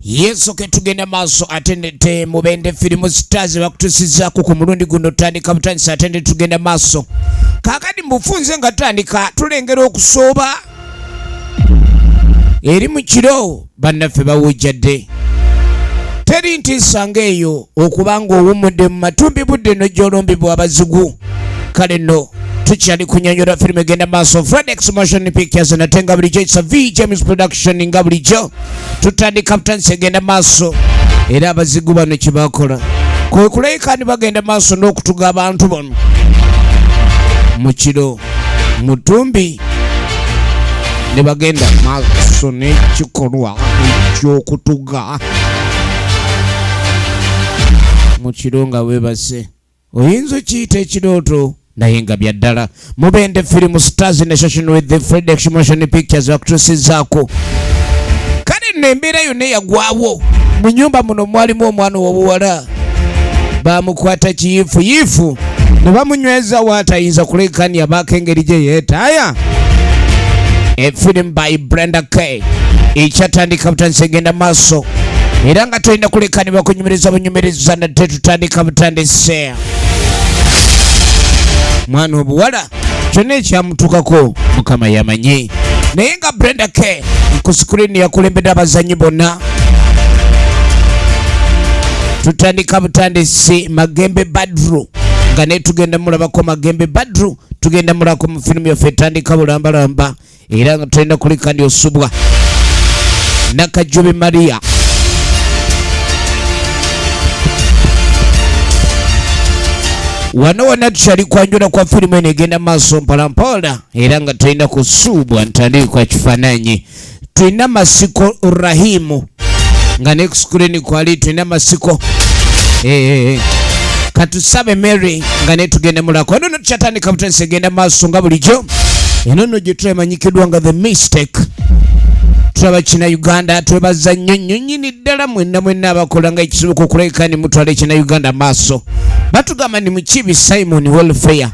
yesu ketugenda maaso atendete mubende firimu stars bakutusizaku ku mulundi guno tandika butandisa atende tugenda maaso kakati mubufunze nga tutandika tulengera okusooba eri mu kiro bannaffe bawujjadde teri ntiisa ng'eyo okuba ng'owummudde mu matumbi budde no gy'olombibwa abazigu kale no tukyali kunyonyola firimu egenda maaso fradex motion pictures nate nga bulijjo kisa v james production nga bulijjo tutandika butandisi egenda maaso era abazigu bano kye bakola kwe kulabika ni bagenda maaso n'okutuga abantu bano mu kiro mutumbi ne bagenda maaso n'ekikolwa eky'okutuga mu kiro nga weebase oyinza okiyita ekirooto naye nga bya ddala mubende firimu stars ne shashin with the fredex motion pictures bakutusizaako kale nno embeera yonna eyagwawo mu nyumba muno mwalimu omwana owobuwala bamukwata kiyifu yifu ne bamunyweza waatayinza kuleekania baako engeri gye yeetaaya a film by brenda k ekyatandika butandise genda maaso era nga tolina kulekanibwa kunyumiriza bunyumiriza nate tutandika butandise mwana obuwala kyonna ekyamutukako mukama yamanyi naye nga brenda k ku sikulini yakulembedde abazanyi bonna tutandika butandisi magembe badru nga netugenda mulabako magembe badru tugenda mulako mu firimu yaffe etandika bulambalamba era nga tolina kuleka ndi osubwa nakajubi maria wano wona tukyali kwanjula kwa firimu eno egenda maaso mpolampola era nga tulina kusuubwa ntandikwa kifaananyi tulina masiko rahimu nga ne screen kwali tulina masiko eh, katusabe mary nga netugenda mulako eno notukyatandika butandisa egenda maaso nga bulijjo eno no gye twemanyikiddwa nga the mistake tulaba kina uganda twebaza nnyo nnyo nyini ddala mwenna mwenna abakola nga ekisoboka okulabika ni mutwala ekina uganda maaso batugamba ni mukibi simon welfare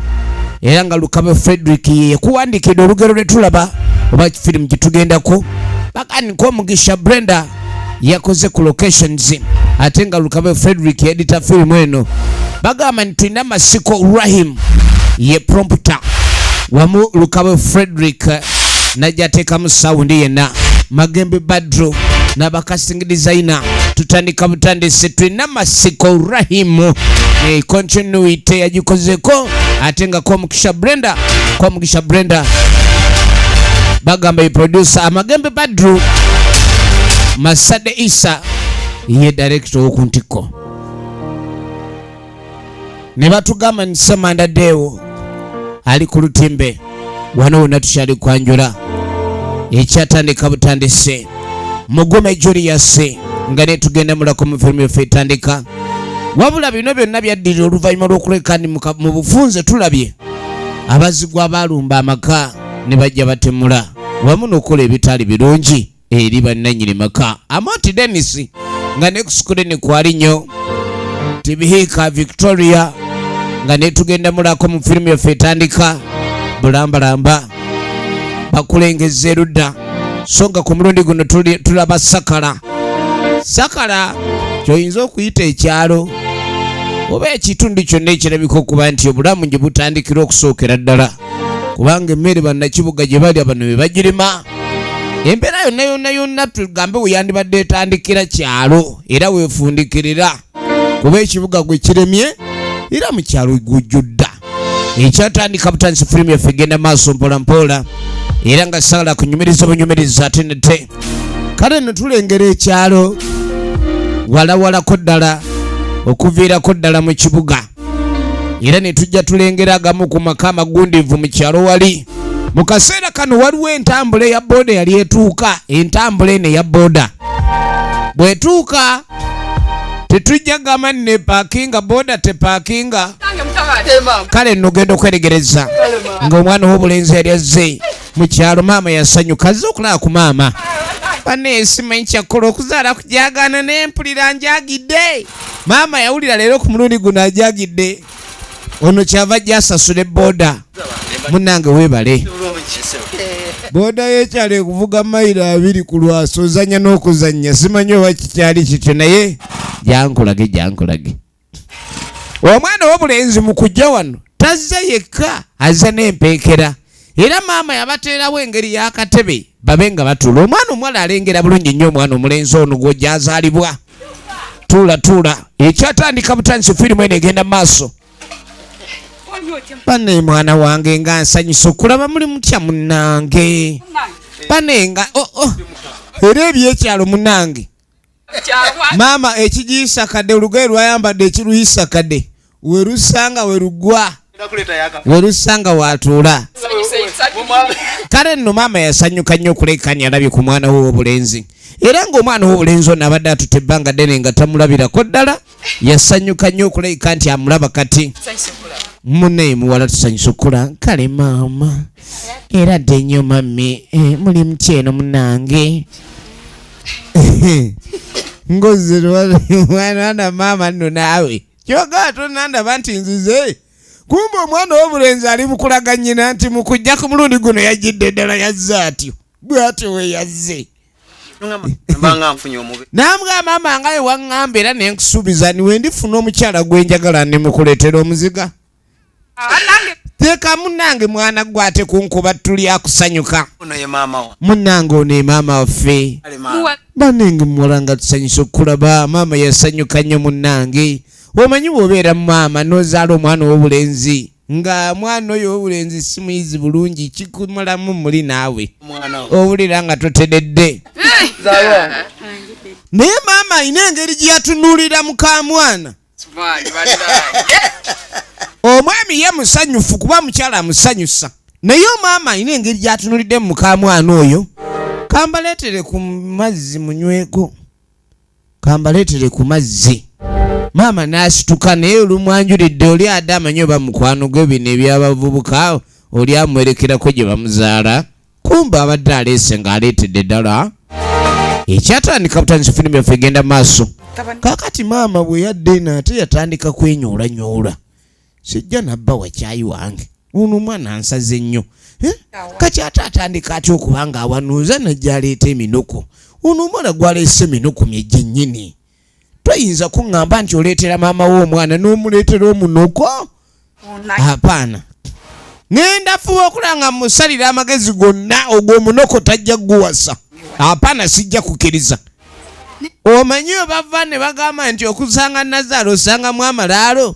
era nga lukaba frederick ye yakuwandiikidde olugero lwe tulaba oba firimu gye tugendako Nkomugisha Brenda yakoze ku locations ate nga Lukabe Frederick yedita firimu eno bagamba nti tulina masiko Rahim ye prompter wamu Lukabe Frederick najja ateekamu sawundi yenna Magembe Badru n'abakasting designer tutandika butandisi tulina masiko Rahim eh, continuity yagikozeko ate nga Mugisha Brenda kwa Mugisha Brenda bagamba ye producer Amagembe Badru Masade Isa ye director w'oku ntikko ne batugamba nti Samanda Deo ali ku lutimbe wano wonna tukyali kwanjula ekyatandika butandise mugume Julius nga netugenda mulako mu firimu yaffe etandika wabula bino byonna byaddirira oluvannyuma lw'okulekani mu bufunze tulabye abazigwa baalumba amaka ne bajja batemula wamu n'okukola ebitaali birungi eri bannannyini maka amoti denis nga nekusukule ne kwali nnyo tibihiika victoria nga netugenda mulako mu firimu yaffe etandika bulambalamba bakulengeza erudda so nga ku mulundi guno tulaba sakala sakala kyoyinza okuyita ekyalo oba ekitundu kyonna ekirabika okuba nti obulamu gye butandikira okusookera ddala kubanga emmere bannakibuga gye balya bano be bagirima embeera yonna yonna yonna tugambe weyandibadde etandikira kyalo era weefundikirira kuba ekibuga gwe kiremye era mu kyalo gujjudda ekyatandika butandisi firimu yaffe egenda maaso mpolampola era nga sagala kunyumiriza obunyumiriza ate nete kale no tulengera ekyalo walawalako ddala okuviirako ddala mu kibuga era ne tujja tulengera agamu ku maka amagundivu mu kyalo wali mu kaseera kano waliwo entambula eya booda yali etuuka entambula eno eya booda bwetuuka tetujja gamba ne pakinga boda tepakinga kale nogenda okweregereza ngaomwana wobulenzi yali azze mukyalo maama yasanyuka azze okulaba ku maama bane esimanyi kyakkola okuzaala kujagaana naye mpulira njagidde maama yawulira leero ku mulundi guno ajagidde ono kyava jasasule boda munange webale boda yekyalo ekuvuga mayiro abiri ku lwaso ozanya n'okuzanya simanyi oba kikyali kityo naye jankulage jankulage omwana wobulenzi mukujja wano tazze yekka azze n'empeekera era maama yabateerawo engeri y'akatebe babe nga batuula omwana omuwala alengera bulungi nnyo omwana omulenzi ono gwojazaalibwa tuula tuula ekyatandika butandisi firimu eno egenda maaso bane mwana wange nga nsanyusa okulaba muli mutya munange bane nga oh, oh. era ebyekyalo munange maama ekigiisa kade olugoye lwayambadde ekiruyisa kade werusanga werugwa werusanga watuula kale nno maama yasanyuka nnyo okulekanya alabye ku mwana we wobulenzi era ng'omwana wobulenzi ono abadde atute ebbanga ddene nga tamulabirako ddala yasanyuka nnyo okulabika nti amulaba kati munaye muwala tusanyusa okukula kale maama era dde nnyo mami eh, muli mutya eno munange ngozirwana maama nno naawe kyogaa tonandaba nti nzize kumba omwana wobulenzi ali mukulaga nyina nti mukujja ku mulundi guno yajjidde ddala yazze atyo bwatyo bwe yazze namugamba maama nga wewaŋŋamba era ne nkusuubiza ni we ndifuna omukyala gwe njagala ne mukuleetera omuziga teeka munnange mwana gwe ate kunkuba tuli akusanyuka munnange ono emaama waffe banenge muwala nga tusanyusa okukulaba maama yasanyuka nnyo munnange omanyi bw'obeera mu maama n'ozaala omwana ow'obulenzi nga mwana oyo owulenzi si muyizi bulungi kikumulamu muli naawe owulira nga totededde naye maama alina engeri gye yatunuulira muka mwana omwami ye musanyufu kuba mukyala amusanyusa naye omwama alina engeri gyatunulidde mu mukamwana oyo kambaleetere ku mazzi munyweko kambaleetere ku mazzi maama n'asituka naye olumwanjulidde oli ade amanyi oba mukwano gwe bino ebyabavubuka oli amwerekerako gye bamuzaala kumba abadde aleese ng'aleetedde ddala ekyatandika butandisa firimu yaffe egenda maaso kakati maama bwe yadde eno ate yatandika kwenyoolanyoula sijja nabba wa kyayi wange ono omwana ansaze nnyo eh? kati ate atandika atya okuba nga awanuuza najjaleeta eminuku ono omwana gwaleese eminuku mye gyennyini toyinza kuŋŋamba nti oleetera maama we omwana n'omuleetera omunuko apaana ŋenda fuba okulaba nga musalira amagezi gonna ogw'omunuko tajja kuguwasa apaana sijja kukiriza omanyi obava ne bagamba nti okusanga nazaala osangamu amalaalo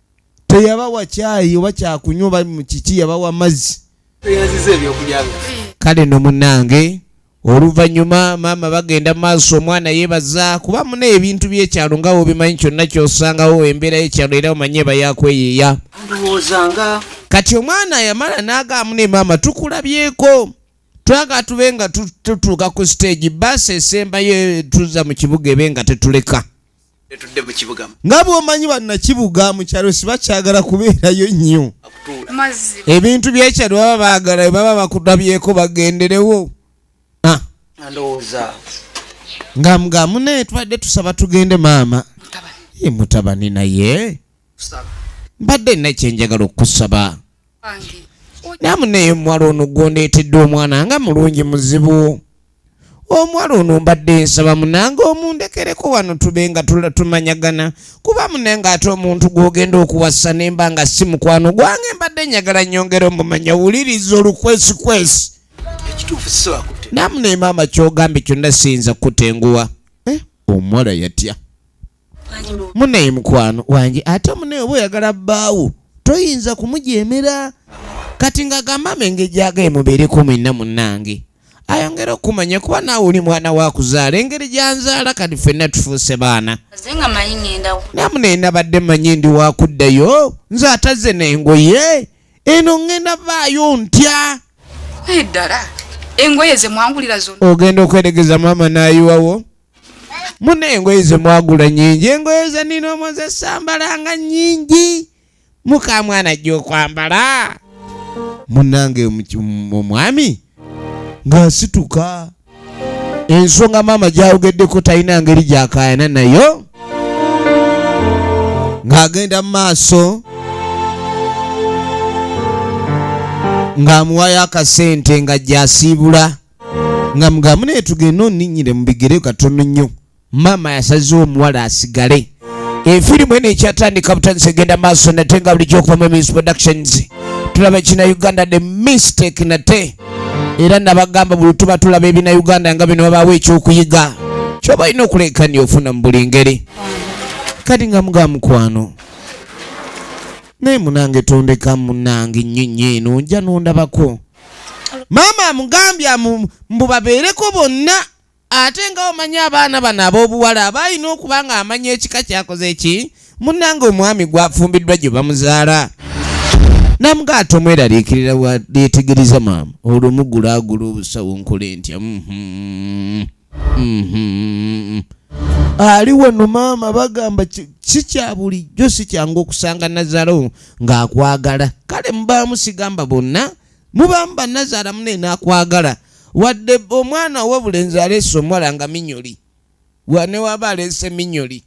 teyabawa kyayi oba kyakunywa oba mukiki yabawa mazzi kale no munange oluvannyuma maama bagenda maaso omwana yebaza kuba muna ebintu byekyalo nga wobimanyi kyonna kyosangawo embeera yekyalo era omanye eba yakweyiiya kati omwana yamala nagaamu ne maama tukulabyeko twaga tube nga tutuuka ku siteegi baasi esembayo tuza mu kibuga ebe nga tetuleka nga bwomanyi banakibuga mukyalo sibakyagala kubeerayo nnyo ebintu byekyalo baba bagala webaba bakutabyeko bagenderewo ah. nga mga mune tubadde tusaba tugende maama ye mutabani naye mbadde nakyenjagala okusaba namune omuwala ono gwondeetedde omwana nga mulungi muzibu omuwala ono mbadde nsaba munange omundekereko wano tube nga tumanyagana kuba mune nga ate omuntu gwogenda okuwasa nemba nga si mukwano gwange mbadde nyagala nyongera omumanya wuliriza olukwesikwesi namune maama kyogambye kyonna siyinza kukutenguwa eh, omuwala yatya muneyi mukwano wange ate muneyi oba oyagala bbaawo toyinza kumujeemera kati nga gamama engeri gyagaye mubeereko mwena munange ayongere okumanya kuba naawe oli mwana wakuzaala engeri gyanzaala kati fenna tufuuse baana namune nabadde manyi ndi wakuddayo nze atazze nengoye eno ŋŋenda vaayo ntya ddala engoye zemwangulira zona ogenda okweregeza maama nayiwawo mune engoye zemwagula nyingi engoye zenina omozesambalanga nyingi mukamwana ajja okwambala munange omwami ngaasituka ensonga maama gyawogeddeko talina ngeri gyakayana nayo ng'agenda mu maaso ng'amuwayo akasente nga gyasiibula nga mugamu naye tugende oninyire mu bigere katono nnyo maama yasazewo omuwala asigale efirimu eno ekyatandika butandisa egenda maaso nate nga bulijjo okuva mu emis productions tulaba ekina uganda the mistake nate era nabagamba buli tuba tulaba ebina uganda nga bino babaawo ekyokuyiga kyoba olina okuleekania ofuna mu buli ngeri kati nga muga mukwano naye munange tondeka munange nyonyi eno nja nondabako maama amugambye amu- mbu babeereko bonna ate nga omanyi abaana bano ab'obuwala aba alina okuba ng'amanya ekika kyakoze eki munnange omwami gwafumbiddwa gye bamuzaala namuga ate omweraliikirira wa- lyetegereza maama olwo mugulaagula obusawo nkole ntya mhm. Mhm. ali wano maama bagamba ki- si kya bulijjo si kyangu okusanga nazaro ng'akwagala kale mubaamu sigamba bonna mubaamu banazara mune n'akwagala wadde omwana ow'obulenzi aleese omuwala nga minyoli wane waba aleese minyoli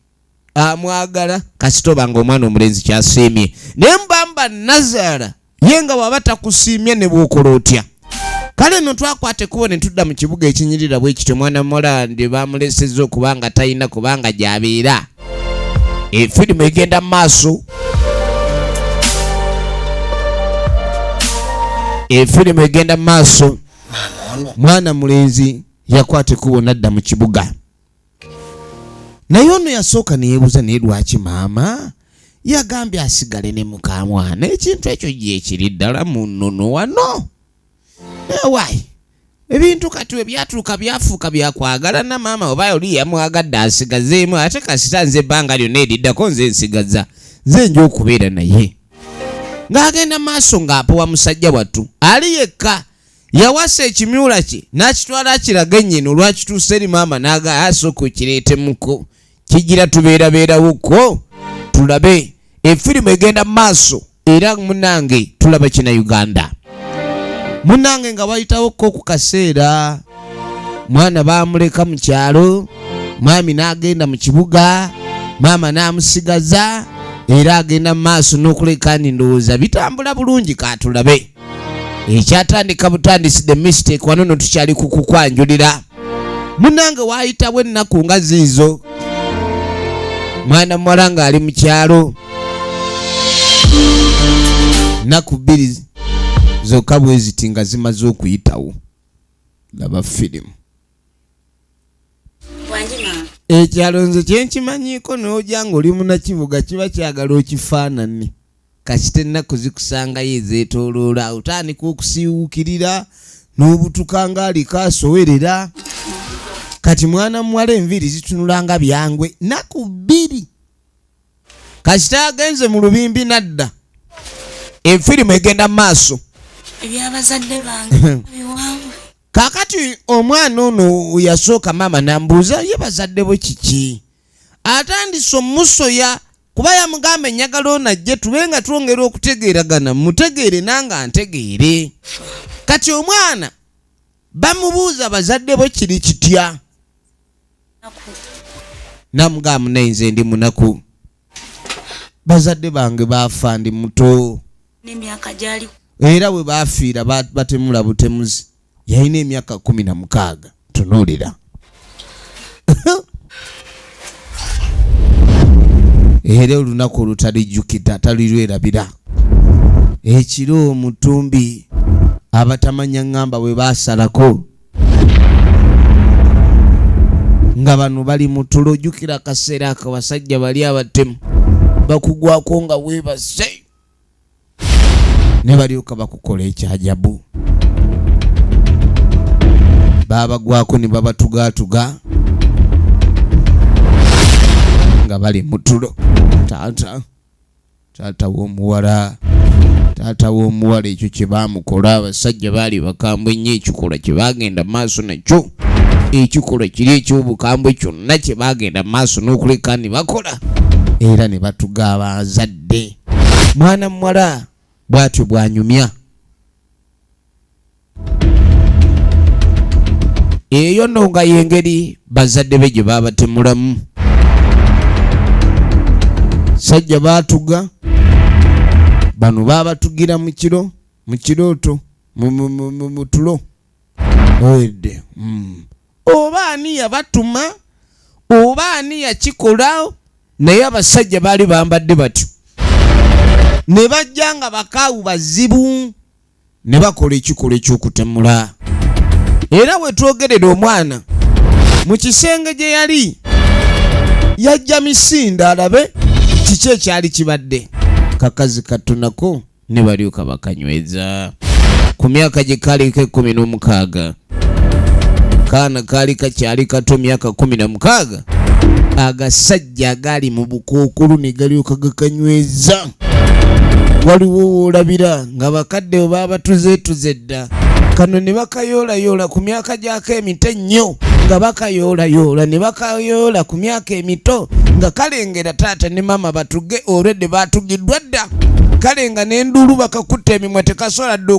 amwagala kasita oba nga omwana omulenzi kyasiimye naye mbamba nazaala ye nga waba takusiimye ne bwokola otya kale no twakwata ekkubo ne tudda mu kibuga ekinyirira bwe kityo mwana mulandi bamulesezza okuba nga talina kubanga gyabeera efirimu egenda mu maaso efirimu egenda mu maaso mwana mulenzi yakwata ekkubo nadda mu kibuga naye ono yasooka neyebuuza naye lwaki maama yagambye asigale ne mukamwana ekintu ekyo gyekiri ddala munono wano ewayi ebintu kati webyatuuka byafuuka byakwagala na maama oba oli yamwagadde asigazeemu ate kasita nze ebbanga lyonna eriddako nze nsigaza nze nja okubeera naye ng'agenda maaso ng'apowa musajja wattu ali yekka yawasa ekimyula kye n'akitwala akirage nnyina olwakituusa eri maama n'aga asooka okireetemuko kigira tubeerabeerawo kwo tulabe efirimu egenda mu maaso era munange tulaba kina uganda munange nga wayitawo ko ku kaseera mwana baamuleka mu kyalo maami n'agenda mu kibuga maama n'amusigaza era agenda mu maaso n'okuleka ni ndowooza bitambula bulungi katulabe ekyatandika butandisi the mistake wano no tukyali kukukwanjulira munange waayitawo ennaku nga ziizo mwana muwala ng'ali mu kyalo nnaku bbiri zokka bwe ziti nga zimaze okuyitawo laba firimu ekyalo nze kyenkimanyiko noja nga oli munakibuga kiba kyagala okifaanani kasita ennaku zikusangayo ezetoloola otandika okusiiwukirira n'obutuka nga aliko asowerera kati mwana muwala enviiri zitunula nga byangwe naku bbiri kasita agenze mu lubimbi nadda enfirimu egenda mu maaso ebyabazadde bange kakati omwana ono yasooka maama nambuuza ye bazadde bwe kiki atandise omusoya kuba yamugamba enyagala ono ajje tube nga twongera okutegeeragana mutegeere nanga ntegeere kati omwana bamubuuza bazadde bwe kiri kitya namugamba naye nze ndi munaku bazadde bange baafa ndi muto era we baafiira batemula butemuzi yalina emyaka kumi na mukaaga tunuulira era olunaku olutalijjukira talirwerabira ekiro omutumbi abatamanya ŋŋamba bwe baasalako nga bano bali mu tulo ojjukira akaseera ako basajja bali abatemu bakugwako nga weebase ne balyoka bakukola ekyajabu baabagwako ne babatugaatuga nga bali mu tulo taata taata w'omuwala taata w'omuwala ekyo kye baamukola abasajja baali bakambwe nnyo ekikolwa kye baagenda maaso nakyo ekikolwa kiri eky'obukambwe kyonna kye baagenda maaso n'okuleka ne bakola era ne batuga abazadde mwana muwala bw'atyo bw'anyumya eyo no nga yengeri bazadde be gye babatemulamu sajja batuga bano babatugira mu kiro mu kirooto mu tulo owedde hmm. oba ani yabatuma oba ani yakikola naye abasajja baali bambadde batyo ne bajja nga bakaawu bazibu ne bakola ekikolwa eky'okutemula era wetwogerera omwana mu kisenge gye yali yajja misinda alabe kiki ekyali kibadde kakazi katunako ne balyoka bakanyweza ku myaka gye kaliko ekkumi n'omukaaga kaana kaali kakyali kato myaka kumi na mukaaga agasajja agaali mu bukookolo ne galyoka gakanyweza waliwo woolabira nga bakadde we baabatuzeetuze dda kano ne bakayoolayoola ku myaka gyako emito ennyo nga bakayoolayoola ne bakayoola ku myaka emito nga kalengera taata ne maama batuge olwedde baatugiddwa dda kale nga n'enduulu bakakutte emimwa tekasobola dda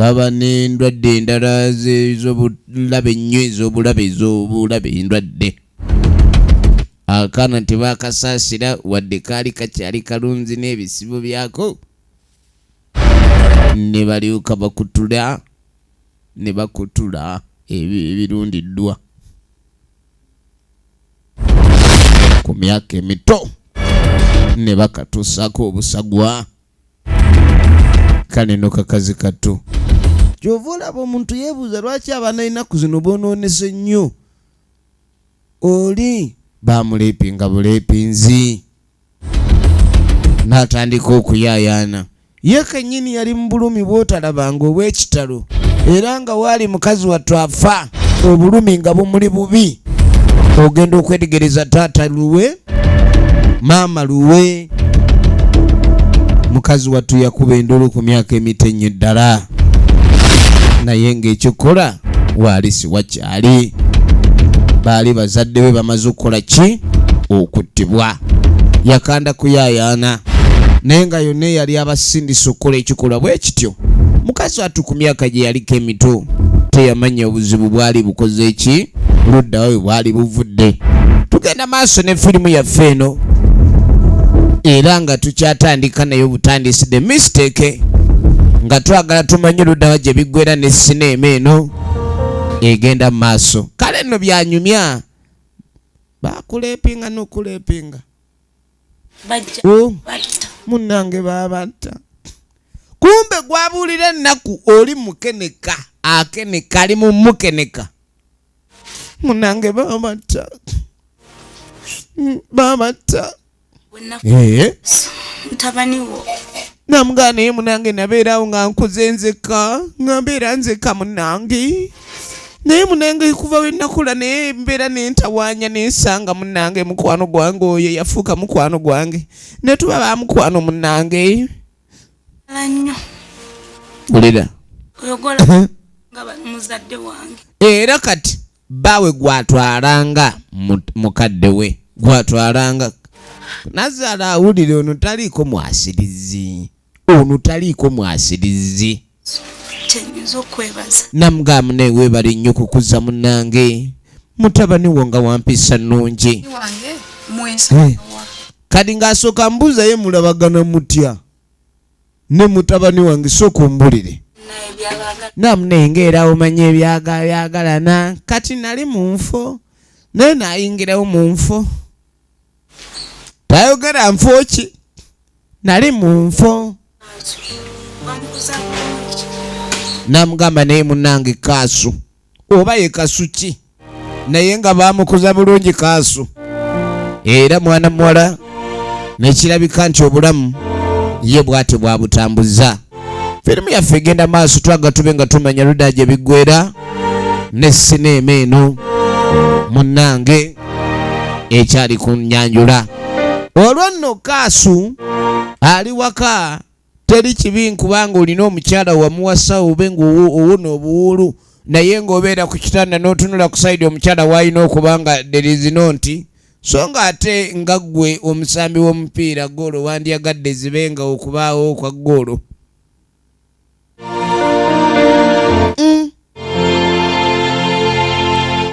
baba n'endwadde endala z'obulabe ennyo ez'obulabe ez'obulabe endwadde akaana tebakasaasira wadde kaali kakyali kalunzi n'ebisibo byako ne balyoka bakutula ne bakutula ebirundiddwa ku myaka emito ne bakatuusaako obusagwa kale no kakazi kattu kyova olaba omuntu yebuuza lwaki abaana enaku zino bonoonese nnyo oli bamuleepinga buleepinzi n'atandika okuyaayaana ye kennyini yali mu bulumi bw'otalabanga obw'ekitalo era nga waali mukazi wattu afa obulumi nga bumuli bubi ogenda okwetegereza taata luwe maama luwe mukazi wattu yakuba enduulu ku myaka emito ennyo ddala naye ng'ekyokukola waali siwakya ali baali bazadde be bamaze okukola ki okuttibwa yakanda kuyayaana naye nga yonna eyali abasindisa okukola ekikolwa bwe kityo mukazi watu ku myaka gye yaliko emito teyamanya obuzibu bwali bukoze ki luddawa we bwali buvudde tugenda maaso ne firimu yaffe eno era nga tukyatandika naye obutandisi the mistake nga twagala tumanye luddawa gye biggwera ne sineema eno egenda mu maaso kale nno byanyumya bakulepinga nokulepinga oh, munange babatta kumbe gwabuulira ennaku oli mukeneka akeneka ali mumukeneka munange babatta babatta eh? mutabani wo namugana naye munange nabeerawo nga nkuze nzekka nga mbeera nzekka munange naye munange kuva wenakula naye mbeera nentawaanya nensanga munange mukwano gwange oyo yafuuka mukwano gwange netuba ba mukwano munange era kati bbaawe gw'atwalanga mukadde we gw'atwalanga nazaala awulire ono taliiko mwasirizi ono taliiko mwasirizi kyenyinza okwebaza namugamba naye weebale nnyo kukuza munange mutabani wo nga wampisa nnungi eh. kati ng'asooka mbuuza ye mulabagana mutya ne mutabani wange sooka ombulire namunengerawo manya ebyagabyagalana kati nali mu nfo naye nayingirawo mu nfo tayogera nfo ki nali mu nfo namugamba naye munange kaasu oba ye kasuki naye nga baamukuza bulungi kaasu era mwana muwala nekirabika nti obulamu ye bwatyo bwabutambuza firimu yaffe egenda maaso twaga tube nga tumanya luda gye biggwera ne sineema eno munnange ekyali ku nyanjula olwo nno kaasu ali waka Teri kibi nkubanga olina omukyala wamuwasa obe nga owona obuwuulu naye nga obeera ku kitanda notunula ku side omukyala waalina okuba nga there is no nti so nga ate nga gwe omusambi womupiira goolo wandyagadde zibe nga okubaawo kwa goolo.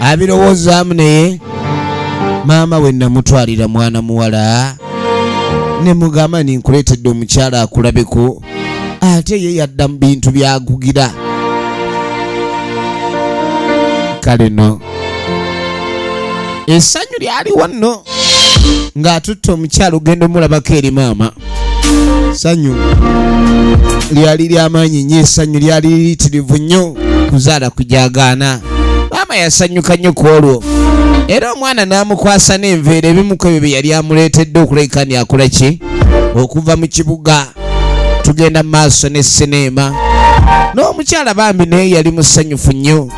abirowoozaamu naye maama we namutwalira mwana muwala ne mugamba ni nkuleetedde omukyala akulabeko ate ye yadda mu bintu byagugira kale no essanyu lyaliwo nno ng'atutte omukyala ogenda omulabako eri maama sanyu lyali lyamaanyi nnyo esanyu lyali liyitirivu nnyo kuzaala kujagaana maama yasanyuka nnyo ku olwo era omwana n'amukwasa n'enveera ebimu ku ebyo bye yali amuleetedde okulabika ni akola ki okuva mu kibuga tugenda mu maaso ne sineema n'omukyala bambi naye yali musanyufu nnyo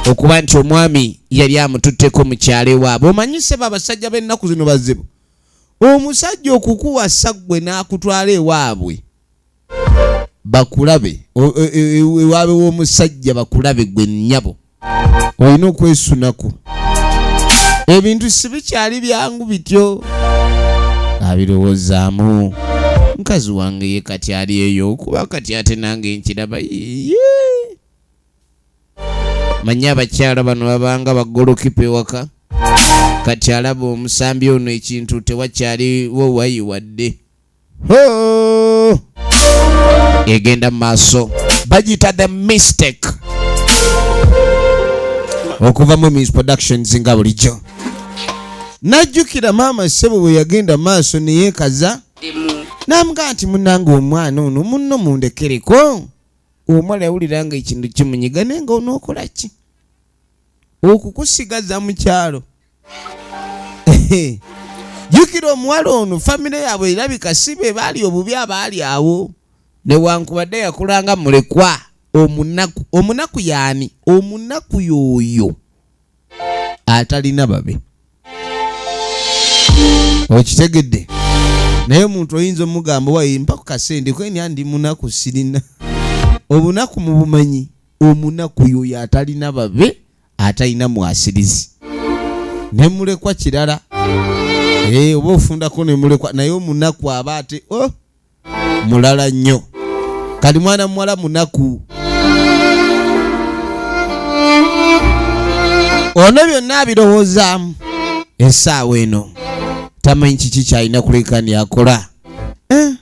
okuba nti omwami yali amututteko mu kyalo ewaabwe omanyise baabasajja b'ennaku zino bazibu Omusajja okukuwasa gwe n'akutwala ewaabwe bakulabe ewaabe w'omusajja bakulabe gwe nnyabo olina okwesunako ebintu sibikyali byangu bityo abirowozaamu mukazi wange ye kati ali eyo kuba kati ate nange nkiraba yee manya abakyala bano babanga bagolokipa ewaka kati alaba omusambi ono ekintu tewakyaliwo wayi wadde egenda mu maaso bagiyita the mistake okuva mu mis productions nga bulijjo najjukira maama ssebo bwe yagenda maaso neyekaza n'amugaa nti munange omwana ono munno mundekereko omala yawulira nga ekintu kimunyiga naye nga onookola ki okukusigaza mu kyalo jjukira omuwala ono famire yaabwe erabika si be baali obubi abaali awo newankubadde yakulanga mulekwa omunaku omunaku yaani omunaku yooyo atalina babe okitegedde naye omuntu oyinza omugamba wayi mpa ku kasente kweni andi munaku sirina obunaku mu bumanyi omunaku yoyo atalina babe atalina mwasirizi ne mulekwa kirala eh, oba ofundako ne mulekwa naye omunaku aba ate oh! mulala nnyo kati mwana muwala munaku ono byonna abirowoozaamu esaawa eno tamanyi kiki kyalina kulekani akola eh?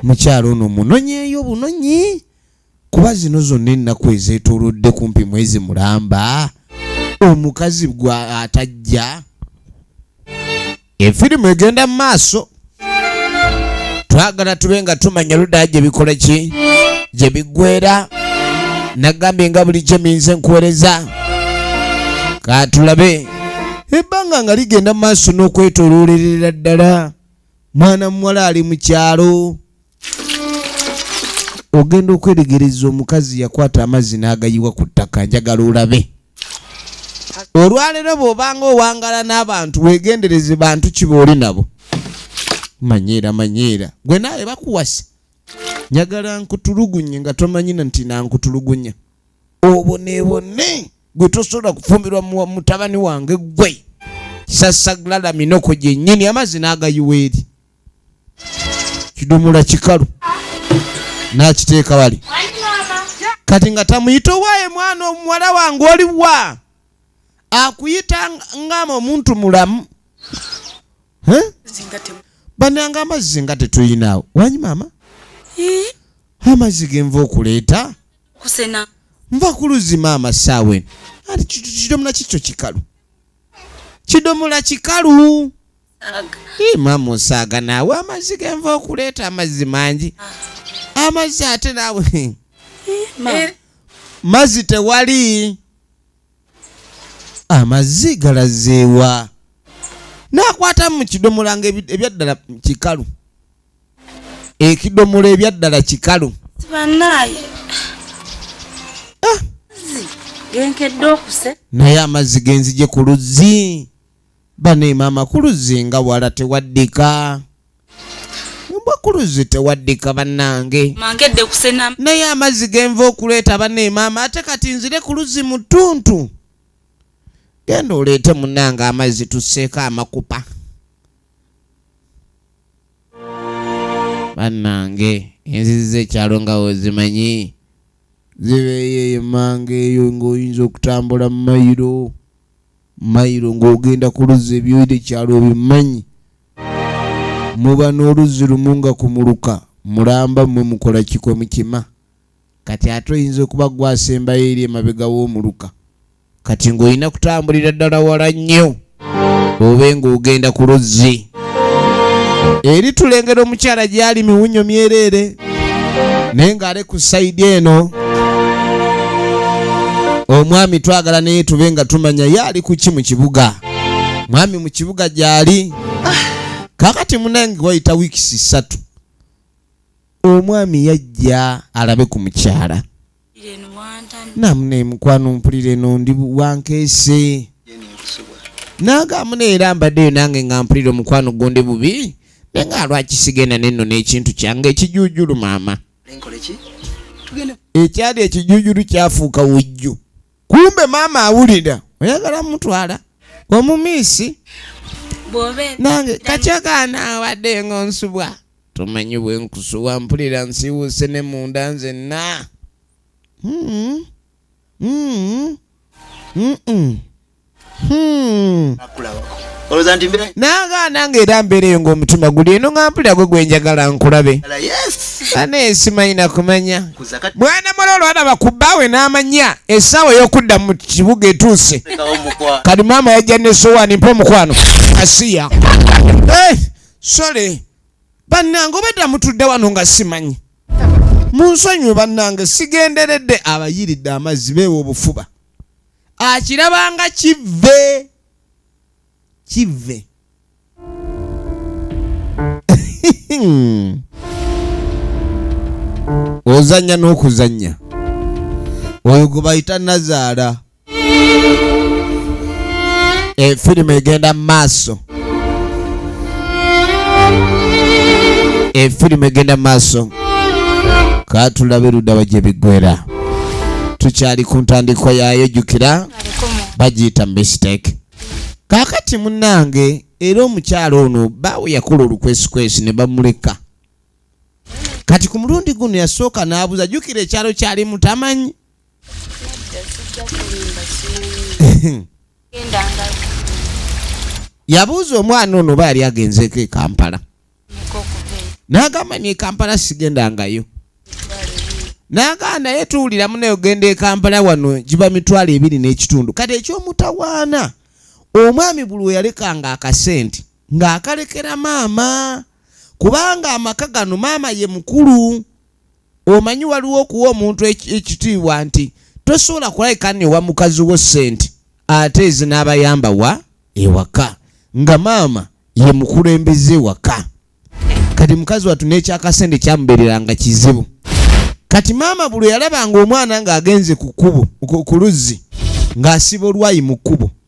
mukyalo ono munonyeeyo bunonyi kuba zino zonna ennaku ezeetoolodde kumpi mwezi mulamba omukazi gwa atajja efirimu egenda mu maaso twagala tube nga tumanya ludaa gye bikola ki gye biggwera nagambye nga buli gye minze nkuwereza katulabe ebbanga nga ligenda mu maaso n'okwetoloolerera ddala mwana muwala ali mu kyalo ogenda okweregereza omukazi yakwata amazzi n'agayiwa ku ttaka njagala olabe olwaleero bw'obanga owangala n'abantu weegendereze bantu kiba oli nabo manyeera manyeera gwe naawe bakuwasa njagala nkutulugunye nga tomanyina nti nankutulugunya obonebone gwe tosobola kufumbirwa mutabani wange gwe sasaglalaminoku gyennyini amazzi n'agayiwa eri kidomola kikalu n'akiteeka wali kati nga tamuyita owaaye mwana omuwala wange oliwa akuyita ngama omuntu mulamu bananga amazzi nga tetuyinaawo wanyi maama amazzi genva okuleeta nva kuluzi maama saawen ati kidomola kikyo kikalu kidomola kikalu Ima musaaga naawe amazzi genva okuleeta amazzi mangi ah. amazzi ate naawe eh, eh. mazzi tewali amazzi galazeewa nakwata mu kidomola nga ebyaddala kikalu ekidomola ebyaddala kikalu ah. naye amazzi genzije ku luzzi Bane mama kuluzi nga wala tewaddika. Mbwa kuluzi tewaddika bannange. Mangedde kusena. Naye amazzi genva okuleeta bane mama ate kati nzire kuluzi mu ttuntu. Genda oleete munnange amazzi tusseeko amakupa. Bannange enzizi z'ekyalo nga ozimanyi. Zibeeyo eyo manga eyo ng'oyinza okutambula mu mayiro. Mailo ng'ogenda ku luzzi ebyoyita ekyalo obimanyi? Muba n'oluzzi lumu nga ku muluka mulamba mmwe mukola ki kwe mukima? Kati ate oyinza okuba ggwe asembayo eri emabega w'omuluka. Kati ng'olina kutambulira ddala wala nnyo obe ng'ogenda ku luzzi. eri tulengera omukyala gyali miwunyo myereere naye ng'ale ku sayidi eno omwami twagala naye tube nga tumanya ye ali ku ki mu kibuga mwami mu kibuga gyali kakati munange wayita wiikisi ssatu omwami yajja alabe ku mukyala namune mukwano mpulira eno ndi wankeese nagamu neera mbaddeyo nange nga mpulira omukwano gonde bubi naye nga lwaki sigenda nenno n'ekintu kyange ekijujulu maama ekyali ekijujulu kyafuuka wujju kumbe maama awulira oyagala mutwala omumiisi nange kakyakaana wadde nga onsubwa Tomanyi bwenkusuwa mpulira nsiiwuuse ne munda nzenna. Hmm. Hmm. Hmm. Hmm. Olowooza nti mbeera nanga nange era mbeera eyo ng'omutima guli eno nga mpulira gwe gwe njagala nkulabe ane simanyi nakumanya mwana mwana olwalaba ku bbaawe n'amanya essaawa ey'okudda mu kibuga etuuse kati maama yajja ne sowaani mpa omukwano asiya eh! Sorry. Bannange obadda mutudde wano nga simanyi. Munsonyiwe bannange sigenderedde abayiridde amazzi beewa obufuba. Akirabanga kivve. Kivve. Ozannya n'okuzannya. Oyo gwe bayita nazaala. e, firimu egenda mu maaso e, firimu egenda mu maaso katulabe ludawa gye biggwera tukyali ku ntandikwa yaayo jjukira bagiyita mistake kaakati munnange era omukyalo ono baawe yakola olukwesikwesi ne bamuleka kati ku mulundi guno yasooka n'abuuza jjukira ekyalo kyali mutamanyi yabuuza omwana ono oba yali agenzeeko ekampala n'agamba ni ekampala sigendangayo n'agamba naye tuwulira munaye ogenda ekampala wano giba mitwalo ebiri n'ekitundu kati ekyomutawaana omwami buli weyalekanga akasente ng'akalekera maama kubanga amaka gano maama ye mukulu Omanyi waliwo okuwa omuntu ekitiibwa nti tosobola kulabika newa mukazi wo sente ate ezinaabayamba wa ewaka nga maama ye mukulembeze waka kati mukazi watu nekyakasente kyamubereranga kizibu kati maama bulwe yalabanga omwana nga agenze ku kubo ku luzzi nga asiba olwayi mu kubo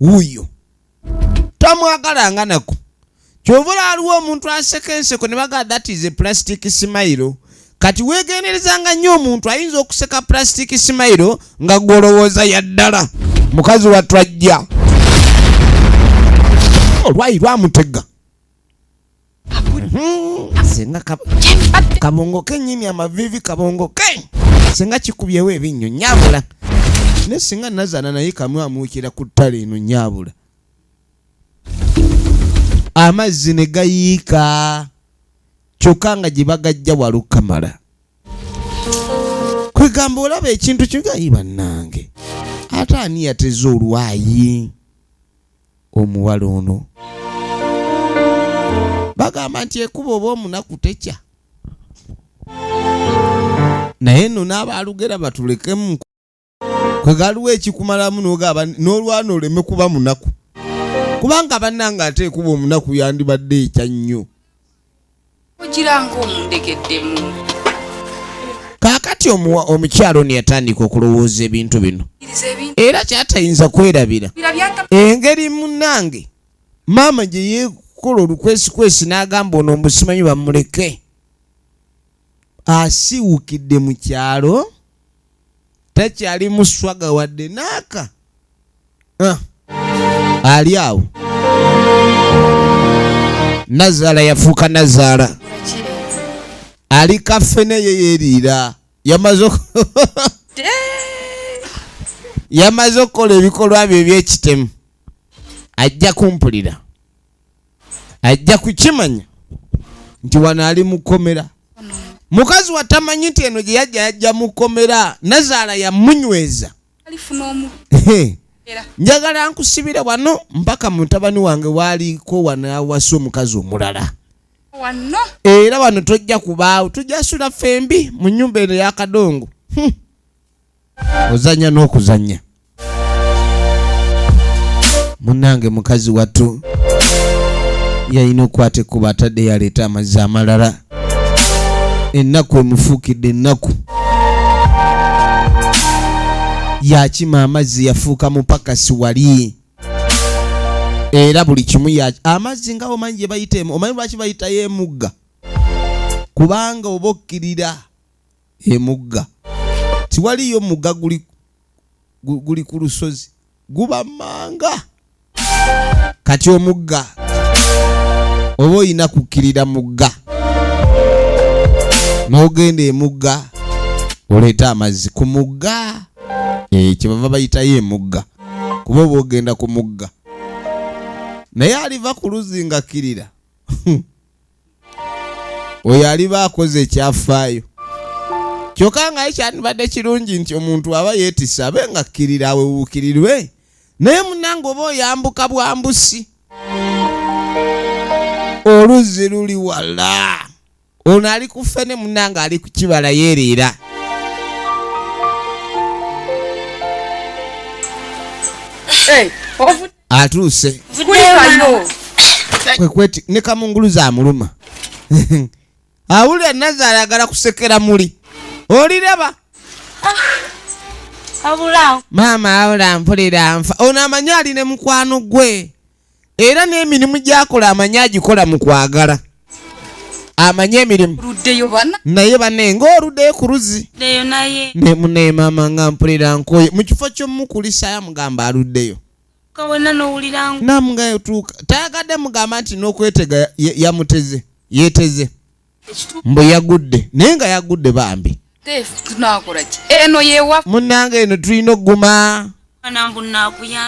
wuuyo tamwagala nga nako kyova olaliwo omuntu aseka enseko ne bagala that is a plastic smile kati wegenderezanga nnyo omuntu ayinza okuseka plastic smile nga gwolowooza yaddala mukazi wattu ajja olwayi lwamutega Hmm, senga kabongo kenyini amavivi kabongo ke senga kikubyewo ebinnyo nyabula ne singa nazana naye kamwe amuukira ku ttale eno nyabula amazzi ne gayiika kyokka nga gye bagajja walukamala kwegamba olaba ekintu kigayi bannange ate ani yateze olwayi omuwala ono bagamba nti ekuba oba omunaku tekya naye nno n'abaalugera batulekemu kwe galiwo ekikumalamu nogaba n'olwana oleme kuba munaku kubanga bannanga ate ekuba omunaku yandibadde ekya nnyo kaakati omukyalo ni yatandika okulowooza ebintu bino era kyatayinza kwerabira engeri munange maama gye yeekola olukwesikwesi n'agamba ono omusimanyi bamuleke asiiwukidde mu kyalo takyali muswaga wadde naaka ah. ali awo nazaala yafuuka nazaala ali kafe naye yeriira yamaze yamaze okukola ebikolwa byo ebyekitemu ajja kumpulira ajja kukimanya nti wano ali mukomera mukazi watamanyi nti eno gye yajja yajja mukomera nazaala yamunyweza njagala nkusibire wano mpaka mutabani wange waaliko wanawasa omukazi omulala wano era wano tojja kubaawo tujja sula fembi mu nyumba eno yakadongo hmm. ozanya n'okuzanya munange mukazi wattu yalina okukwata ekkuba atadde yaleeta amazzi amalala ennaku emufuukidde ennaku yakima amazzi yafuuka mupakasi wali era buli kimu amazzi nga omanyi gye bayita omanyi lwaki bayitayo emugga kubanga oba okkirira emugga tiwaliyo mugga guli guli ku lusozi guba manga kati omugga oba olina kukkirira mugga n'ogenda emugga oleeta amazzi ku mugga eh, kyebava bayitayo emugga kuba oba ogenda ku mugga naye aliva ku luzzi ngakkirira oyo aliba akoze ekyafaayo kyokka nga ekyandibadde kirungi nti omuntu aba yeetisa abe nga kkirira awewuukirirwe naye munange oba oyambuka bwambusi oluzzi luli wala ono ali ku ffene munange ali ku kibala yeeriira Hey, atuuse kwekweti ne kamunguluza amuluma awulira naza ayagala kusekera muli oliraba ah, maama awula mpulira nfa ono amanyi ali ne mukwano gwe era n'emirimu gyakola amanyi agikola mu kwagala amanyi emirimu naye bane ngaoludeyo ku luzi nemunaye maama nga mpulira nkoye mu kifo kyomukulisaya mugamba aluddeyo namunga yotuuka tayagadde mugamba nti nokwetega yamuteze yeteze mbu yagudde naye nga yagudde bambi munange eno tulina okuguma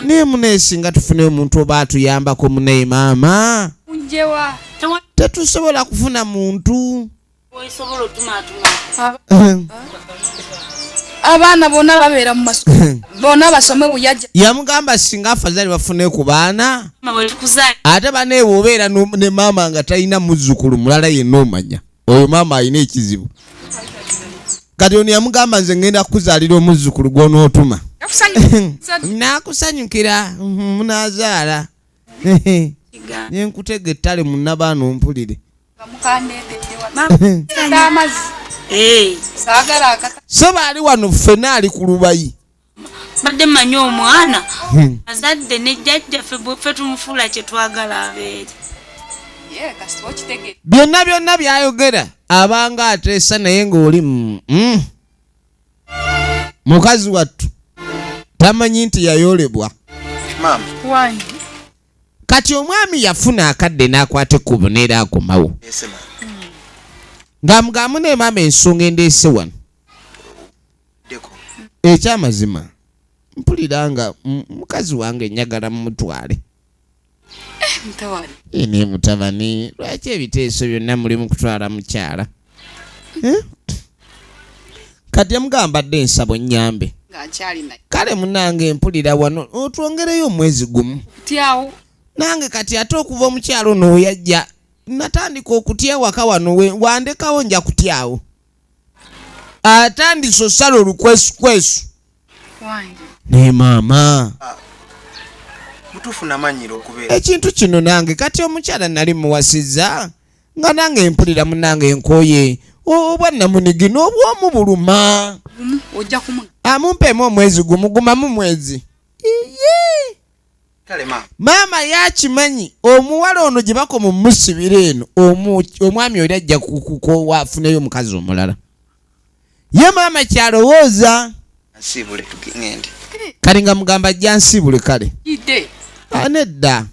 naye muneesi nga tufune omuntu oba atuyambako munaye maama tetusobola kufuna muntu abaana bona babeera mumas bona basome buyaja yamugamba singa afazali bafune ku baana ate baneebwe obeera ne maama nga talina muzzukulu mulala yenna omanya oyo maama alina ekizibu kati ono yamugamba nze ngenda kukuzaalira omuzzukulu gwonootuma nakusanyukira mhm, munazaala nenkutega ettale munabaana ompulire so baali wano ffena ali ku lubayi Mbadde manyi omwana hmm. azadde ne jjajja fe tumufuula kye twagala abeere. Byonna byonna byayogera abanga ateesa naye ng'oli mm, mm. mukazi wattu tamanyi nti yayolebwa. Kati omwami yafuna akadde n'akwata ekkubo neera akomawo. Nga mugamu ne maama ensonga endeese wano. ekyamazima mpulira nga mukazi wange njagala mumutwale eh, naye mutabani lwaki ebiteeso byonna muli mukutwala mukyala eh? kati amugamba dde ensabo nyambe kale munange mpulira wano otwongereyo omwezi gumu nange kati ate okuva omukyalo nooyajja natandika okutya ewaka wano wandekawo nja kutyawo atandise osala olukwesukwesu naye maama ekintu kino nange kati omukyala nali muwasiza nga nange mpulira munange enkoye obwa namunigi n'obwomu buluma amumpeemu omwezi gumugumamu mwezi iye maama yakimanyi omuwala ono gye bakoma omusibira eno omwami oli ajja kukowa afuneyo omukazi omulala ye maama kyalowooza kale nga mugamba ajja nsiibule kale anedda ah,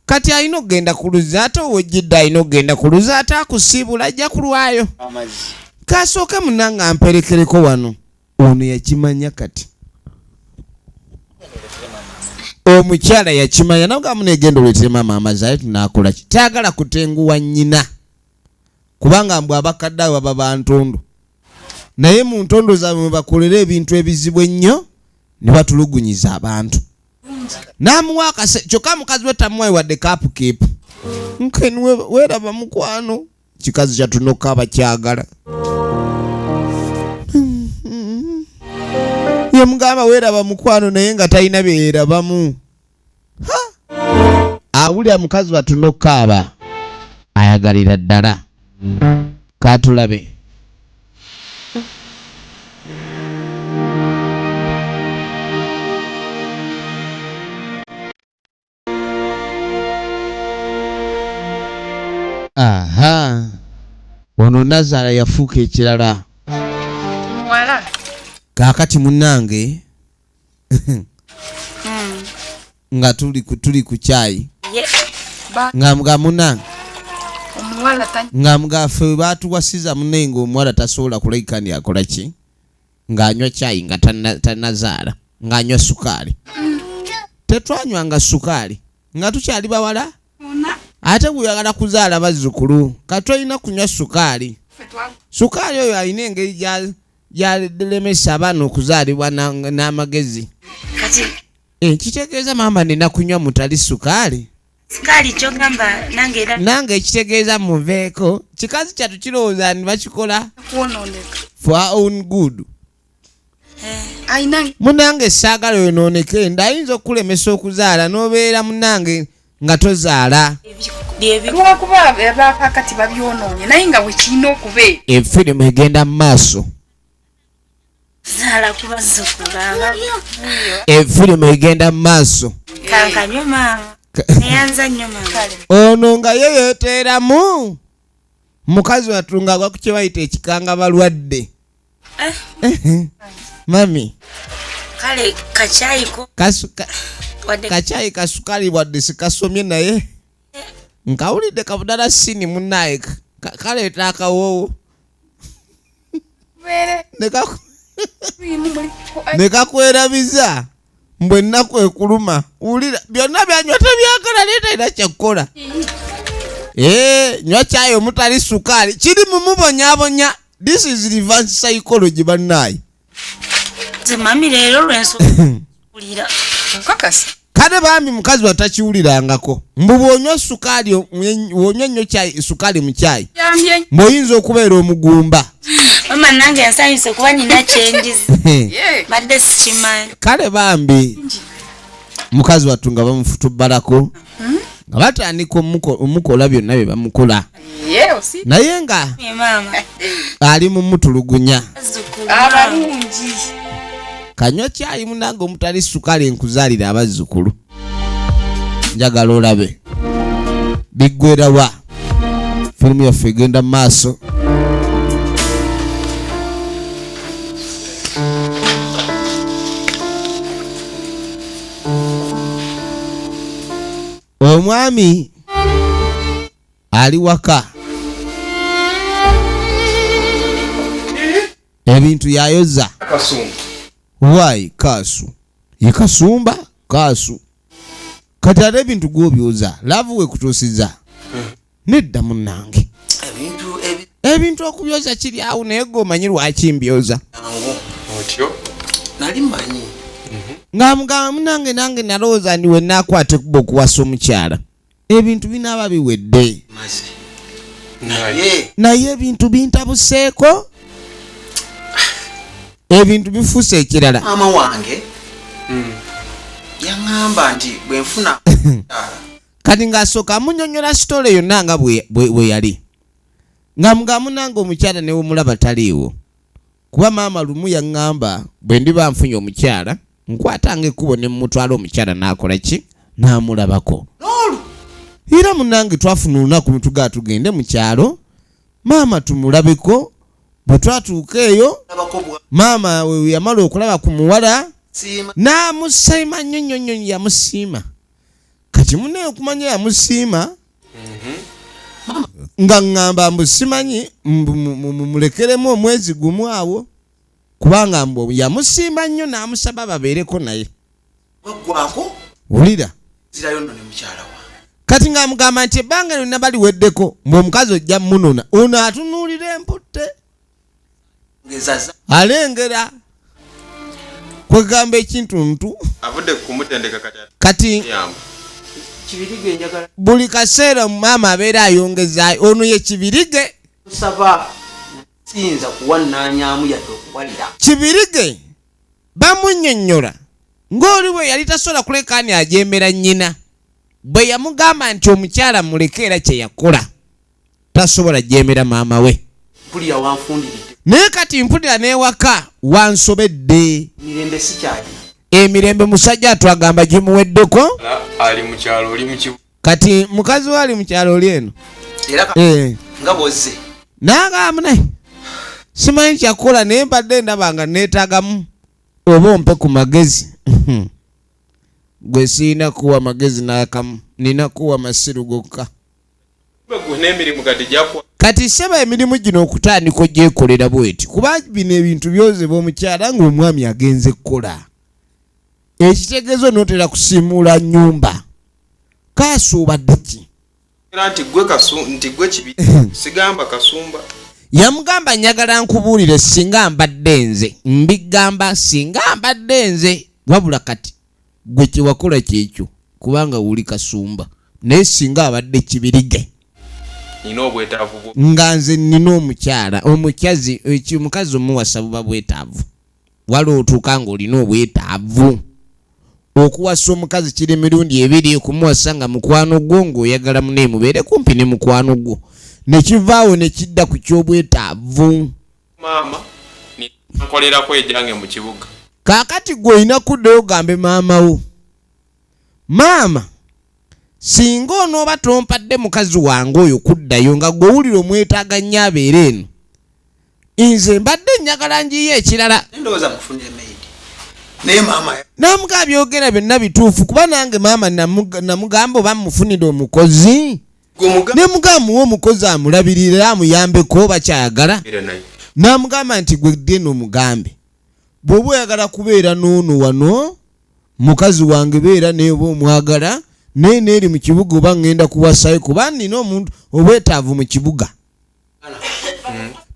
kati alina okugenda ku luzzi ate owejjidde alina okugenda ku luzzi ate akusiibula ajja kulwayo kasooke munanga amperekereko wano ono yakimanya kati omukyala yakimanya nagamu negenda oletere maama amazi aye tunakola ki tayagala kutenguwa nyina kubanga mbwe abakadde abo baba bantondo naye mu ntondo zaabwe mwebakolera ebintu ebizibu ennyo ne batulugunyiza abantu namuwa akase kyokka mukazi we tamuwayi wadde kapu kepu nkeniwe weraba mukwano kikazi kyatunoka abakyagala yemugamba weraba mukwano naye nga talina byeyerabamu awulira mukazi batunokaaba ayagalira ddala katulabe aha ono nazala yafuuka ekirala muwala kakati munange hmm. nga tuli tuli ku kyayi nga munange nga mugafe batuwasiza munenga omuwala tasobola kulekani akolaki ng'anywa caayi nga tannazaala ng'anywa sukaali tetwanywanga sukaali nga tukyali bawala ate guyagala kuzaala bazzukulu kati tolina kunywa sukaali sukaali oyo alina engeri gyalemesa abaana okuzaalibwa n'amagezi ekitegeeza eh, maama nina kunywa mutali sukaali Sikaali kyogamba nange era nange ekitegeeza muveeko kikazi kyatu kirowooza ni bakikola kwonooneka for our own good Eh, alina munange esaagala yonooneke nda ayinza okukulemesa okuzaala n'obeera munange nga tozaala byebi lwakuba abaakakati babyonoonye naye nga bwekirina okubeera efirimu egenda mu maaso efirimu egenda mu maaso ono nga ye yeteeramu mukazi wattu nga agwa ku kyebayita ekikanga balwadde eh. Eh, eh. mami kacaayi kasukali wadde sikasomye naye nkawulidde kabudala sini munaye kaleeta akawoowo nekakwerabiza mbwe ennaku ekuluma wulira byonna byanywa tebyagala naye talina kyekukola eh, nywa kyayo omutali sukaali kiri mumubonyabonya this is reverse psychology bannaayi nze mami leero lwensoulira kakasa kale bambi mukazi watakiwulirangako mbu bwonywa sukaali wonywa nnyo kyayi sukaali mu kyayi mbwoyinza okubeera omugumba mama nange nsanyuse kuba nina kyenjizi badde sikimanyi kale bambi mukazi wattu nga bamufutubbalako hmm? nga batandika omukola byonna bye bamukola naye nga ali mumutulugunya kanywa kyayi munange omutali sukali nkuzalira abazzukulu njagala olabe biggwerawa firimu yaffe egenda mu maaso omwami ali waka ebintu yayoza wayi kaasu ye kasumba kaasu kati ate ebintu gwobyoza laavu wekutuusiza nedda munnange ebintu okubyoza kiri awo naye gwe omanyi lwaki mbyoza nali manyi nga mugamba munange nange nalowooza ndi wenakwata ekuba okuwasa omukyala ebintu binaaba biwedde naye ebintu bintabuseeko ebintu bifuuse ekirala maama wange hmm. yaŋamba nti bwenfuna kati ng'asooka amunyonyola sitole yonna nga bwe yali nga mugamunanga omukyala newemulaba taliiwo Kuba maama lumu yaŋŋamba bwe ndiba nfunye omukyala, nkwatanga ekkubo ne mmutwala omukyala n'akola ki? N'amulabako. N'olwo era munnange twafuna olunaku ne tugaa tugende mu kyalo maama tumulabeko. Bwe twatuuka eyo, maama we yamala okulaba ku muwala n'amusiima nnyo nnyo nnyo. Yamusiima. Kati munnange okumanya yamusiima! nga ŋŋamba mbu simanyi mumulekeremu omwezi gumu awo kubanga mbu yamusiima nnyo n'amusaba babeereko naye wulira kati ng'amugamba nti ebbanga lyonna baliweddeko mbu omukazi ojja munona ono atunuulira emputte alengera kwegamba ekintu ntu kati buli kaseera maama abeera ayongeza ono ye kibirige kibirige bamunyonyola ng'oli bwe yali tasobola kulekaani ajembera nnyina bwe yamugamba nti omukyala muleke era kye yakola tasobola jeemera maama we naye kati mpulira n'ewaka wansobedde emirembe musajja atwagamba gimuweddeko kati mukazi we ali mu kyalo oli eno eh. nagamba naye simanyi kyakukola naye mbadde ndaba nga neetagamu oba ompe ku magezi gwe siina kuwa magezi n'akamu nina kuwa masiru gokka kati seba emirimu gino okutandika ogyekolera bweti kuba bino ebintu byozebwa omukyala ngaomwami agenze kukola ekitegezo notera kusimuula nyumba kasuubaddeki yamugamba njagala nkubuulire singa mbadde nze mbigamba singa mbadde nze wabula kati Gwe kyewakola kyekyo kubanga wuli kasumba. Naye singa abadde kibirige. Nina obwetaavu bwo. Nga nze nina omukyala, omukyazi, eki, omukazi omuwasa buba bwetaavu. Wali otuuka nga olina obwetaavu. Okuwasa omukazi kiri mirundi ebiri, okumuwasa nga mukwano gwo, nga oyagala munaye mubeere kumpi ne mukwano gwo. Nekivaawo nekidda ku kyobwetaavu. maama nkolerako ejange mu kibuga kakati gwe olina kuddayo ogambe maama wo maama singa onooba tompadde mukazi wange oyo kuddayo nga gwewulira omwetaaga nnyo abeera eno nze mbadde njagala njiyo ekirala namuga abyogera byonna bituufu kuba nange maama namugamba oba mufunire omukozi ne mugamba muwe omukozi amulabirire era amuyambeko oba kyayagala n'amugamba nti gwe ddeno mugambe bw'oba oyagala kubeera n'ono wano mukazi wange beera naye oba omwagala naye neeri mu kibuga oba ŋŋenda kuwasayo kuba nina omuntu obwetaavu mu kibuga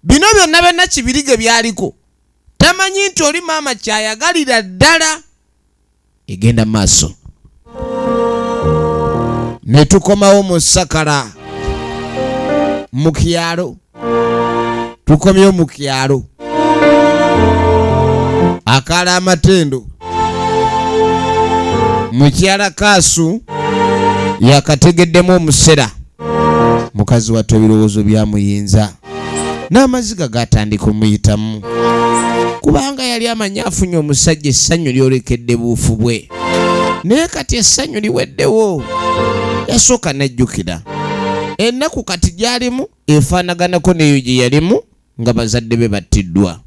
bino byonna byonna kibirige byaliko tamanyi nti oli maama kyayagalira ddala egenda maaso ne tukomawo mu sakala mu kyalo tukomyewo mu kyalo akaala amatendo mukyala kaasu yakategeddemu omusera mukazi wattu ebirowoozo byamuyinza n'amaziga gaatandika omuyitamu kubanga yali amanyi afunye omusajja essanyu lyolekedde buufu bwe naye kati essanyu liweddewo yasooka n'ajjukira ennaku kati gy'alimu efaanaganako n'eyo gye yalimu nga bazadde be battiddwa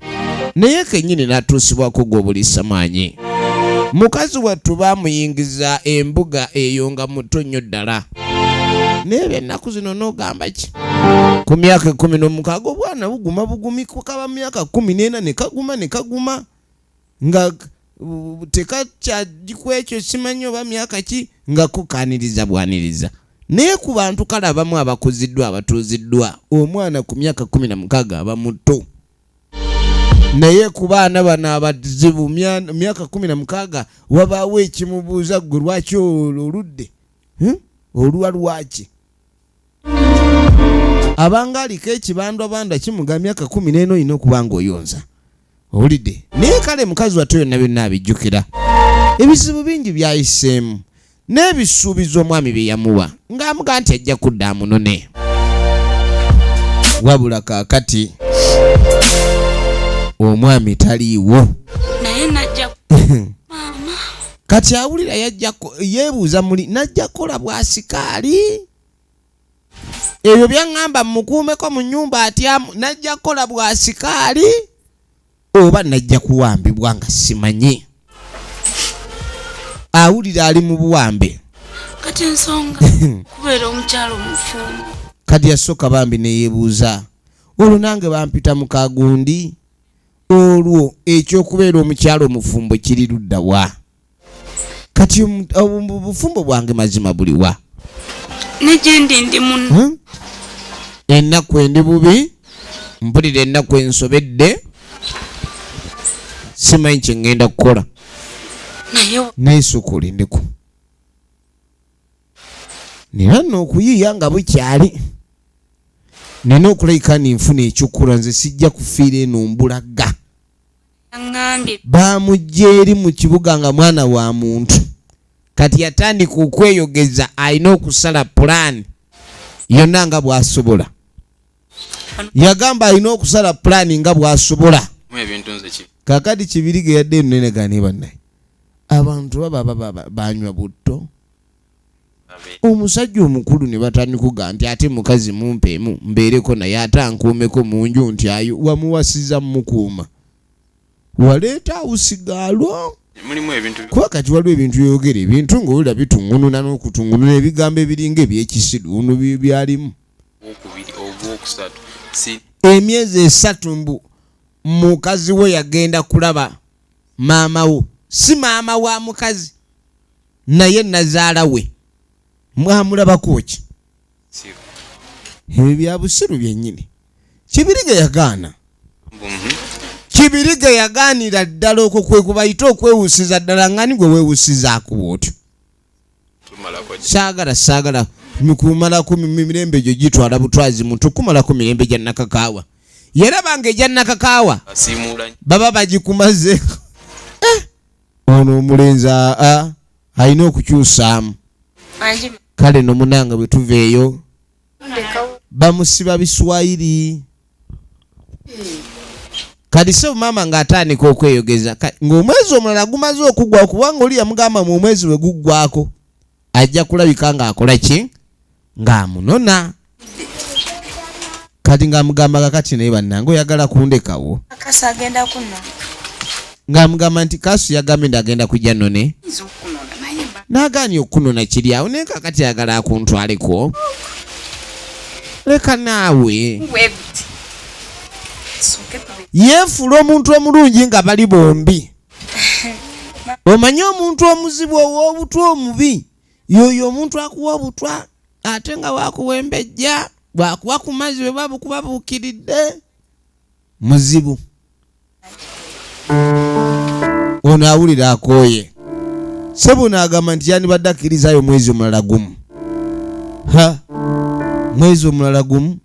naye kenyini natuusibwa kugwa obulisa maanyi mukazi wattu baamuyingiza embuga eyo nga muto nnyo ddala naye byennaku zino n'ogamba ki ku myaka ekkumi n'omukaaga obwana buguma bugumi kukaba myaka kkumi n'ena ne kaguma ne kaguma nga tekakyaji ku ekyo simanyi oba myaka ki nga kukaaniriza bwaniriza naye ku bantu kale abamu abakuziddwa abatuuziddwa omwana ku myaka kumi na mukaaga aba muto naye ku baana bano abazibu myaka kumi na mukaaga wabaawo ekimubuuza ggwe lwaki oludde hmm? oluwa lwaki abanga aliko ekibandwabandwa kimuga myaka kumi neena olina okuba nga oyonza owulidde naye kale mukazi watto yonna byonna abijjukira ebizibu bingi byayiseemu n'ebisuubizo omwami bye yamuwa ng'amuga nti ajja kudda amunone wabula kaakati omwami taliiwo kati awulira yajja yeebuuza muli najja kukola bwasikaali ebyo byaŋŋamba mmukuumeko mu nnyumba atyamu najja kukola bwasikaali oba najja kuwambibwa nga simanyi awulira ali mu buwambe kati ensonga kubeera omukyalo omufumbo kati yasooka bambi neyeebuuza olwo nange bampita mukagundi olwo ekyokubeera omukyala omufumbo kiri ludda wa kati obufumbo bwange mazima buliwa nejendi ndi muno hmm? ennaku endi bubi mpulira ennaku ensobedde simanyi kyengenda kukola naye sukulindiko nina nno okuyiiya nga bukyali nina okulabika ni nfuna ekyokkola nze sijja kufiira eno mbulaga baamujja eri mu kibuga nga mwana wa muntu kati yatandika okweyogeza alina okusala pulaani yonna nga bw'asobola yagamba alina okusala pulaani nga bw'asobola kakati kibirige yadde enunenegani bannaye abantu baba banywa butto omusajja omukulu ne batanikuga nti ate mukazi mumpeemu mbeereko naye ate ankuumeko mu nju nti ayo wamuwasiza mukuuma waleeta awusigaalwo kuba kati waliwo ebintu byeyogera ebintu ngaowulira bitungununa n'okutungununa ebigambo ebiringa ebyekisiru ono byalimu emyezi esatu mbu mukazi we yagenda kulaba maama wo si maama wa mukazi naye nazaala we mwamulabako ki ebyo byabusiru byenyini kibirige yagaana kibirige yagaanira ddala okwo kwekubayita okwewusiza ddala ngani gwe wewusizaako bwotyo saagala saagala mikumalako mirembe gyo gitwala butwazi muntu kumalako mirembe gya nakakaawa yalabanga egya nakakaawa baba bagikumaze eh! ono omulenzi aa alina okukyusaamu kale nomunanga bwetuva eyo bamusiba biswayiri kati sebo maama ng'atandika okweyogeza ng'omwezi omulala gumaze okugwa kubanga oli yamugamba mu omwezi we guggwako ajja kulabika ng'akola ki ng'amunona kati ng'amugamba kakati naye bannange oyagala kundekawo ng'amugamba nti kaasu yagambye nti agenda kujja none n'agaanyi okukunona kiri awo naye kakati ayagala akuntwaleko leka naawe yeefuula omuntu omulungi nga bali bombi omanye omuntu omuzibu ow'obutwa omubi yoyo omuntu akuwa obutwa ate nga wakuwembejja bwakuwa ku mazzi bwe babukuba buukiridde muzibu ono awulira akooye sebuno agamba nti yandibadde akkirizaayo omwezi omulala gumu ha mwezi omulala gumu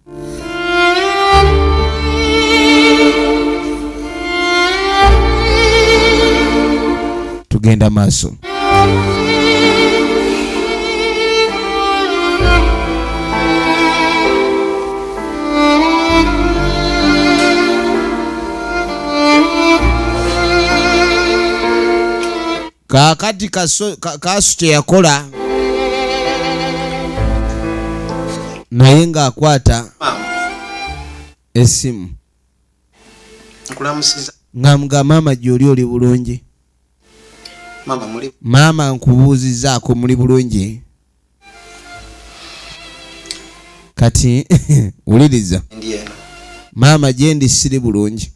tugenda maaso kakati kasu kyeyakola naye ng'akwata esimu nga mugamba maama gyoli oli bulungi maama nkubuuzizaako muli bulungi kati wuliriza maama gyendi siri bulungi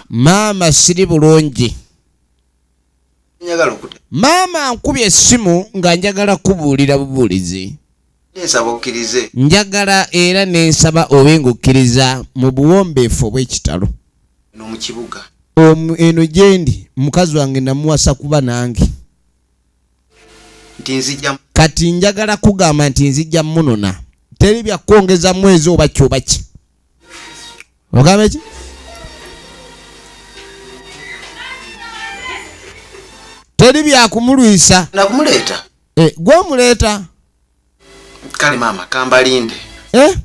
maama siri bulungi maama nkubye essimu nga njagala kubuulira bubuulizi Naye nsaba okkirize. Njagala era ne nsaba obe ng'okkiriza mu buwombeefu obw'ekitalo. Eno mu kibuga. Omu, eno gye ndi. Mukazi wange nnamuwasa kuba nange. Nti nzija. Kati njagala kugamba nti nzija munona. Teri bya kwongeza mwezi oba ki oba ki. Ogamba ki? Teri bya kumulwisa. Na kumuleeta. Eh, gwamuleeta kale maama kambalinde eh?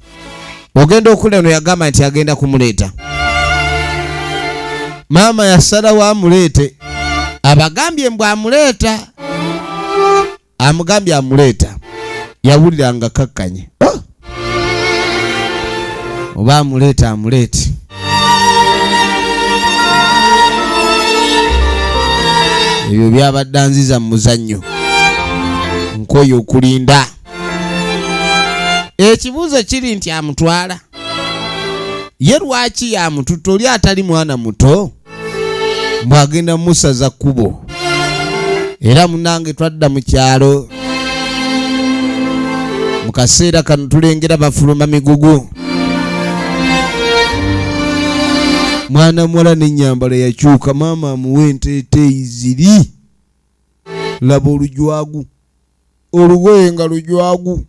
ogenda okula no yagamba nti agenda kumuleeta maama yasalawo amuleete abagambye mbw amuleeta amugambye amuleeta yawulira nga kakkanye oba amuleeta amuleeti ebyo byabadde anziza mu muzannyo nkoye okulinda ekibuuzo kiri nti amutwala ye lwaki yamututa oli atali mwana muto mbu agenda musaza kkubo era munange twadda mu kyalo mu kaseera kano tulengera bafuluma migugu mwana muwala n'ennyambala yakyuka maama amuwa enteeteeyi ziri laba olujwagu olugoye nga lujwagu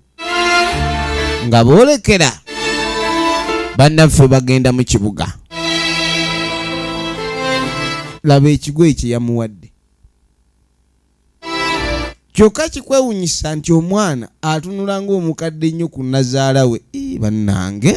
nga boolekera bannaffe bagenda mu kibuga laba ekigo ekyo yamuwadde kyokka kikwewunyisa nti omwana atunula ng'omukadde nnyo ku nazaala we bannange